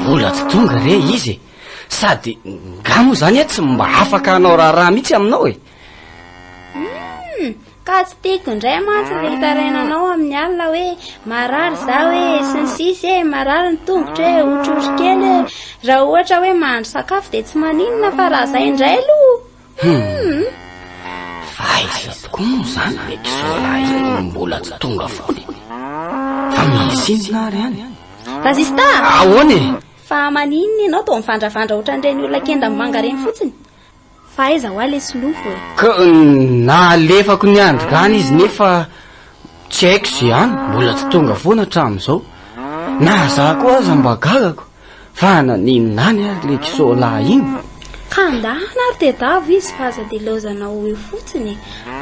Mbola tsy tonga re izy e! Sady nga moa zany aho tsy mba afaka hanao raharaha mihitsy aminao e! Hum! Ka tsy tiako indray mantsy ilay hitarainanao amin'ny alina hoe marary zaho e, sy ny sisa e, marary ny tongotro e, otrorokely e. Raha ohatra hoe mahandro sakafo dia tsy maninona fa raha izay indray aloha! Hum! Fa aiza tokoa moa izany ilay kisoalahy izay no mbola tsy tonga foana e? Fa misy inona ary any? Vazista! Ahoana e? Fa maninona ianao toa mivandravandra ohatran'ireny olona kenda manga ireny fotsiny? Fa aiza hoa ilay solofo e? Ka nalefako ny andrikany izy nefa tsy haiko izay any, mbola tsy tonga foana hatramin'izao. Na za koa aza mba gagako. Fa naninona any ary le kisoa lahy iny? Ka ndahana ary tedavo izy fa aza dilaozana ho eo fotsiny e!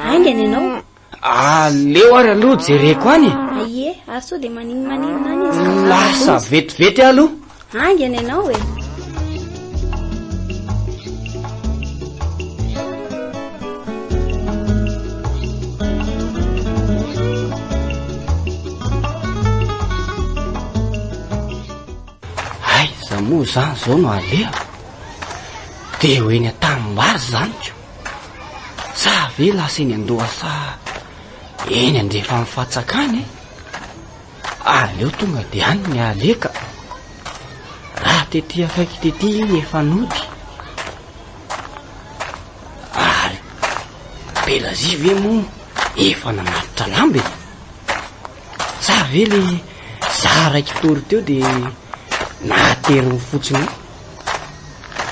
Haingana ianao. Aleo ary aloha jereko any e! A ie, ary sao dia maninmaninona any izy ka zara-doza? Lasa vetivety aho aloha. Haingana ianao e! Aiza moa zany zao no alehako? Dia eo eny an-tanimbary zany ko. Sa ve lasa eny an-dohasa eny andrefan'ny fatsaka any e? Aleo tonga dia any ny aleka. Raha tety akaiky tety iny efa nody. Ary Belazia ve moa efa nanatitra lamba e? Sa ve le za raiky tory teo de nahateriny fotsiny io?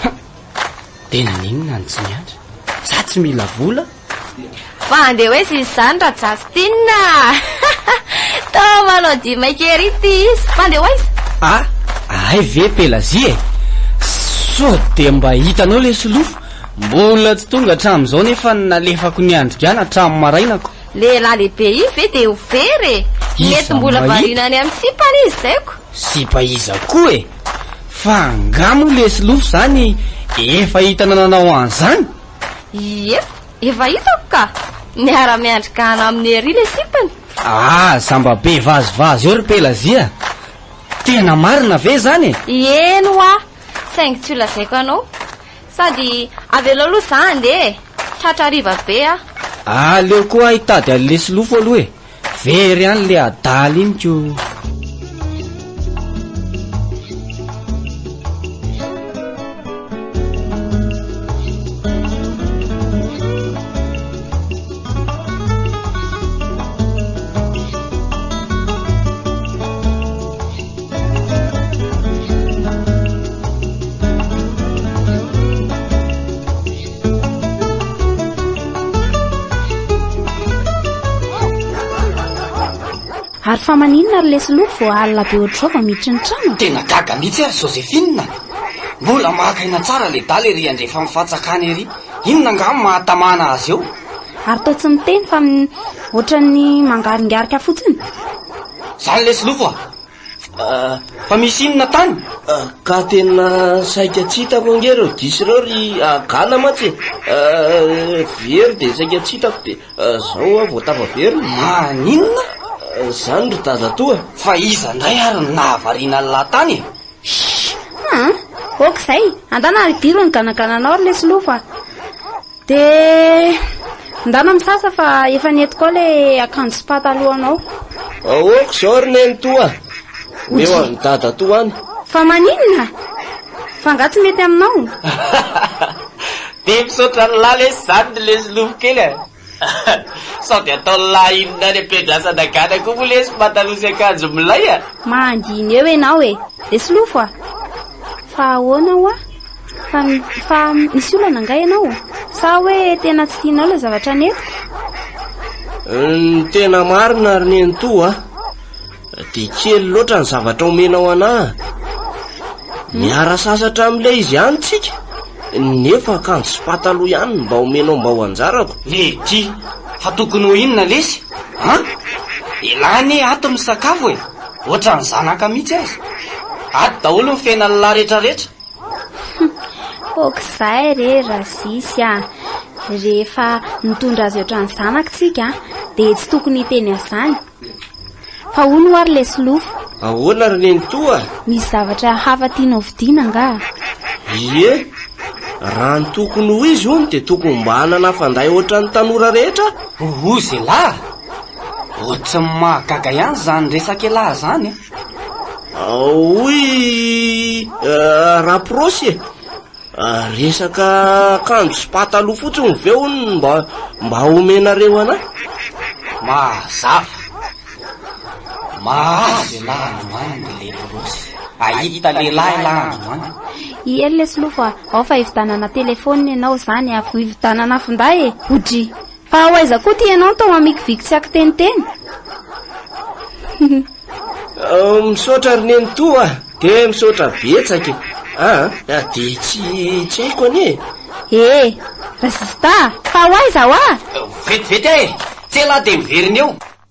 Huh! De naninona any tsy miandry? Za tsy mila vola? Fa andeha hoaiza izy izany Ra-Justin a? Toa manao dia maika ery ity izy. Fa andeha hoaiza? A! Ahay ve Pelagie e? Sao dia mba hitanao le solofo? Mbola tsy tonga hatramin'izao nefa nalefako niandry gana hatramin'ny marainako. Lehilahy lehibe izy ve dia ho very e! Iza Mety no mbola mahita? variana any amin'ny sipany izy izay ko! Sipa iza koa e! Fa angaha moa lesy lofo izany efa hita nananao an'izany? Ie, efa hitako ka! Miara-miandry gana aminy ery ilay sipany! Aza mba be vazivazy eo ry Pelazia! Tena marina ve izany e! Eny hoa! Saingy tsy ho lazaiko anao! Sady avelao aloha za handeha e! Tratra hariva be aho. Aleo koa hitady an'i Lesilofo aloha e! Very any le adala iny ko! Ary fa maninona ary lesy loko vao alina be ohatr'izao vao miditra ny trano? Tena gaga mihitsy aho ry Joséphine. Mbola maka aina tsara le daly ery andrefa amin'ny fatsakana ery. Inona angaha ny mahatamana azy eo? Ary toa tsy miteny fa ohatran'ny mangaringarika fotsiny. Zany lesy lofo ah. Ah, fa misy inona tany? Ah, ka tena saika tsy hitako ange ireo diso ireo ry agana mantsy ah, very dia saika tsy hitako dia zao aho vao tafaverina maninona zany ry tazatoa fa iza indray ary nahavariana ny lahatany e ok izay andana ary diro ny ganagananao ry lesy lofa Dia ndana misasa fa efa nety koa ilay akanjo sy patalohanao. Aoka izao ry nenitoa, omeo an'i dadatoa any. Fa maninona? Fa angaha tsy mety aminao? Dia misaotra an'lah lesy izany ny lesy lofo kely a! Sao dia ataon'lah inona any am-piandrasana gana koa moa lesy pataloha sy akanjo milay a! Mahandihina eo ianao e! Lesy lofo a! Fa ahoana hoa? Fa, fa misy olana angaha ianao? Sa hoe tena tsy tianao ilay zavatra nentiko? Ny tena marina ry nenitoa a, dia kely loatra ny zavatra omenao anah. Miara sasatra amin'ilay izy ihany tsika, nefa akanjo sy pataloha ihany no mba omenao mba ho anjarako. Lady, fa tokony ho inona lesy? An? Elah anie ato misakafo e! Ohatran'ny zanaka mihitsy aza. Ato daholo ny fena lehilahy retraretra. Humm, aok'izay re Razisy a! Rehefa nitondra azy ohatran'ny zanaka tsika dia tsy tokony hiteny an'izany. Fa hono hoa ry lesilofo. Ahoana ry nenitoa? Misy zavatra hafa tianao vidiana angaha? Ie, raha ny tokony ho izy hono dia tokony mba hanana fanday ohatran'ny tanora rehetra aho. Ohoh, zelahy! Ohatran'ny mahagaga ihany izany resak'elah izany e! Hoy Raporosy e! Resaka akanjo sy pataloha fotsiny ve hono mba mba omenareo an'ahy? Mazava! Mahazo elah androany ny Leporosy. Hahita lehilahy elah androany. I Hery lesy lofo a! Ao fa hividanana telephone ianao izany a! Ho hividanana finday e! Ho dry! Fa ho aiza koa ty ianao tao amikiviky tsy akiteniteny? Misaotra ry nenitoa a! Dia misaotra betsaka e! Aa! Dia tsy tsy haiko anie e! Ee! Ry zista a! Fa ho aiza hoa? Vetivety aho e! Tsy ela aho dia miverina eo!